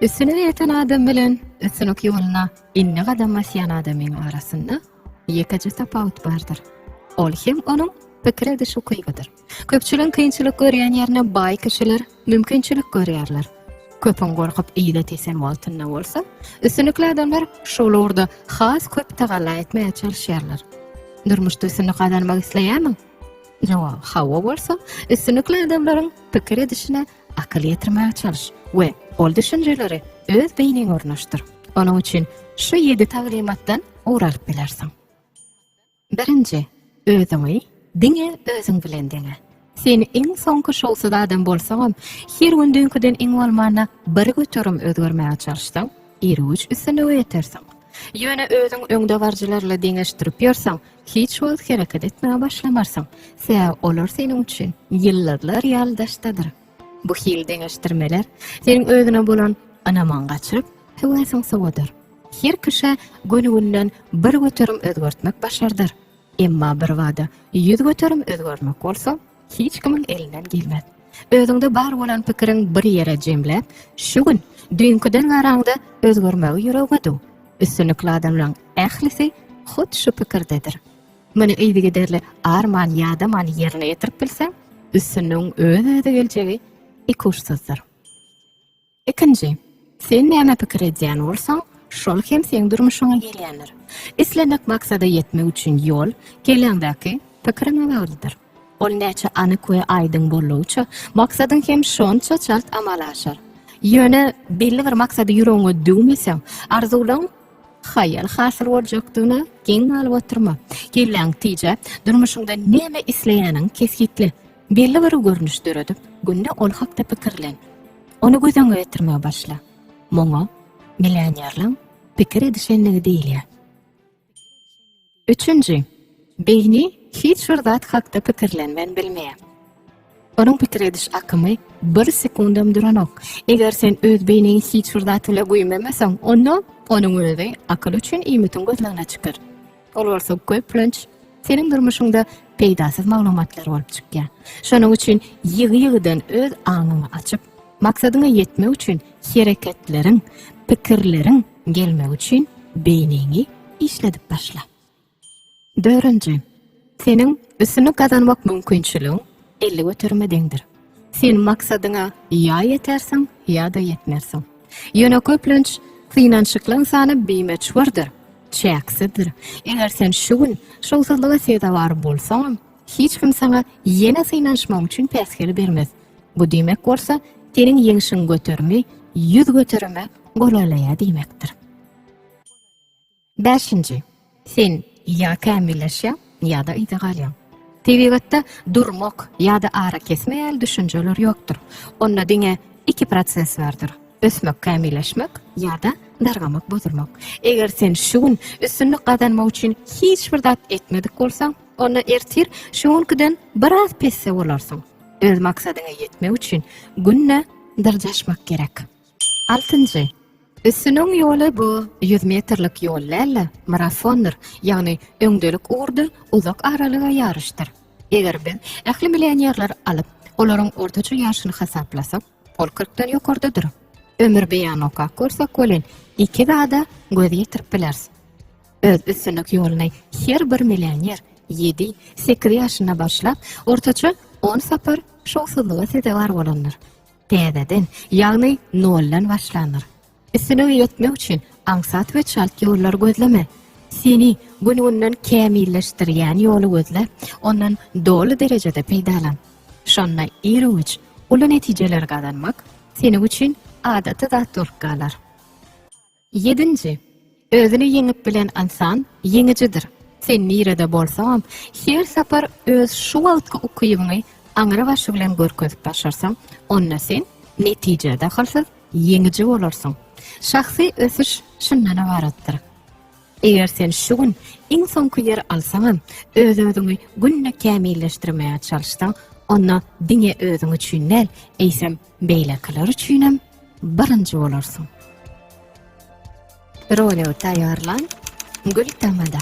Üstüne ýeten adam bilen üstünlik ýoluna indi gadam basýan adamyň arasynda ýekeje tapawut bardyr. Ol hem onuň pikir ediş ukybydyr. Köpçüligiň kynçylyk görýän ýerine baý kişiler mümkinçilik görýärler. Köpüň gorkup yza tesen wagtynda bolsa, üstünlikli adamlar şol ugurda has köp tagalla etmäge çalyşýarlar. Durmuşda üstünlik gazanmak isleýärmiň? Jogap hawa bolsa, üstünlikli adamlaryň pikir edişine akyl ýetirmäge çalyş we ol düşünjeleri öz beýniňe ornaşdyr. Onuň üçin şu ýedi taglymatdan ugur alyp bilersiň. Birinji, özüňi diňe özüň bilen deňe. Sen iň soňky şowsuz adam bolsaňam, her gün düýnküden iň bolmanda bir göterim özgermäge çalyşsaň, irgüç üstünlige ýetersiň. Ýöne özüň öňdebaryjylarla deňeşdirip ýörseň, hiç wagt hereket etmäge başlamarsyň, sebäbi olar seniň üçin ýyldyzlar ýaly daşdadyr. Bu hili deňeşdirmeler seniň özüne bolan ynamyňy gaçyryp, höwesiňi sowadyr. Her kişä gönügünden bir göterim özgertmek başardyr. Emma birbada ýüz göterim özgermek bolsa, hiç kimiň elinden gelmez. Özüňde bar bolan pikiriň bir ýere jemläp, şu gün düýnküden garaňda özgermegi ýüregiňe düw. Üstünlikli adamlaryň ählisi hut şu pikirdedir. Muny yzygiderli arman ýadaman ýerine ýetirip bilseň, üstünligiň öz-özi geljegi ikuçsyzdyr. Ikinji, sen näme pikir edýän bolsaň, şol hem seň durmuşyňa gelýändir. Islendik maksada ýetmek üçin ýol, kelläňdäki, pikiriňe baglydyr. Ol näçe anyk we aýdyň boldugyça, maksadyň hem şonça çalt amala aşar. Ýöne, belli bir maksady ýüregiňe düwmeseň, arzuwlaryň Haýal hasyl boljakdygyna geň galyp oturma. Kelläňi tije, durmuşyňda näme isleýäniňi kesgitle. Belli bir görnüş döredip, günde ol hakda pikirlen. Ony göz öňüňe getirmegi başla. Muňa millionerliň pikir edişenligi diýilýär. Üçünji, beýni hiç bir zat hakda pikirlenmän bilmeýär. Onuň pikir ediş akymy bir sekundam duranok. Eger sen öz beýniňi hiç bir zat bile güýmemeseň, onda onuň özi akyl üçin iýmitiň gözlegine çykar. Ol bolsa köplenç seniň durmuşyňda peýdasyz maglumatlar bolup çykýar. Şonuň üçin ýygy-ýygydan öz aňyňy açyp, Maksadyňa ýetmek üçin hereketleriň, pikirleriň gelmegi üçin beýniňi işledip başla. Dördünji. Seniň üstünlik gazanmak mümkinçiligiň elli göterime deňdir. Sen maksadyňa ýa ýetersiň, ýa-da ýetmersiň. Ýöne köplenç synanşyklyň sany bimeçhurdyr, çäksizdir. Eger sen şu gün şowsuzlyga sezewar bolsaňam, Hiç kim saňa ýene synanyşmagyň üçin päsgel bermez. Bu diýmek bolsa, seniň ýeňşiň göterimi ýüz göterime golaýlaýar diýmekdir. Bäşinji, sen ýa kämilleşýäň, ýa-da yza galýaň. Tebigatda durmak ýa-da arakesme ýaly düşünjeler ýokdur. Onda diňe iki proses bardyr, ösmek-kämilleşmek ýa-da dargamak-bozulmak. Eger sen şu gün üstünlik gazanmak üçin hiç bir zat etmedik bolsaň, Onda ertir şu günküden biraz pesse bolarsyň. Öz maksadyňa ýetmek üçin günde dyrjaşmak gerek. Altynjy. Üstüniň ýoly bu ýüz metrlik ýol däl-de, marafondyr, ýagny öňdelik ugurda uzak aralyga ýaryşdyr. Eger biz ähli millionerleri alyp, olaryň ortaça ýaşyny hasaplasak, ol kyrkdan ýokardadyr. Ömürbeýany okap görsek welin, iki zada göz ýetirip bileris. Öz üstünlik ýoluny her bir millioner ýedi, sekiz ýaşynda başlap, ortaça on sapar şowsuzlyga sezewar bolandyr. Täzeden, ýagny noldan başlandyr. Üstünlige ýetmek üçin aňsat we çalt ýollary gözleme. Seni gün-günden kämilleşdirýän ýoly gözle, ondan doly derejede peýdalan. Şonda ir-üwüç uly netijeleri gazanmak seniň üçin adaty zat bolup galar. Ýedinji, Özüni ýeňip bilen ynsan ýeňijidir. Sen nirede bolsaňam, her sapar öz şu wagtky ukybyňy aňrybaşy bilen görkezip başarsaň, onda sen, netije dahylsyz, ýeňiji bolarsyň. Şahsy ösüş şundan ybaratdyr. Eger sen şu gün iň soňky ýeri alsaňam, öz-özüňi günde kämilleşdirmäge çalyşsaň, onda diňe özüň üçin däl, eýsem, Beýlekiler üçinem birinji bolarsyň. Roleo taýýarlan, gül tamada.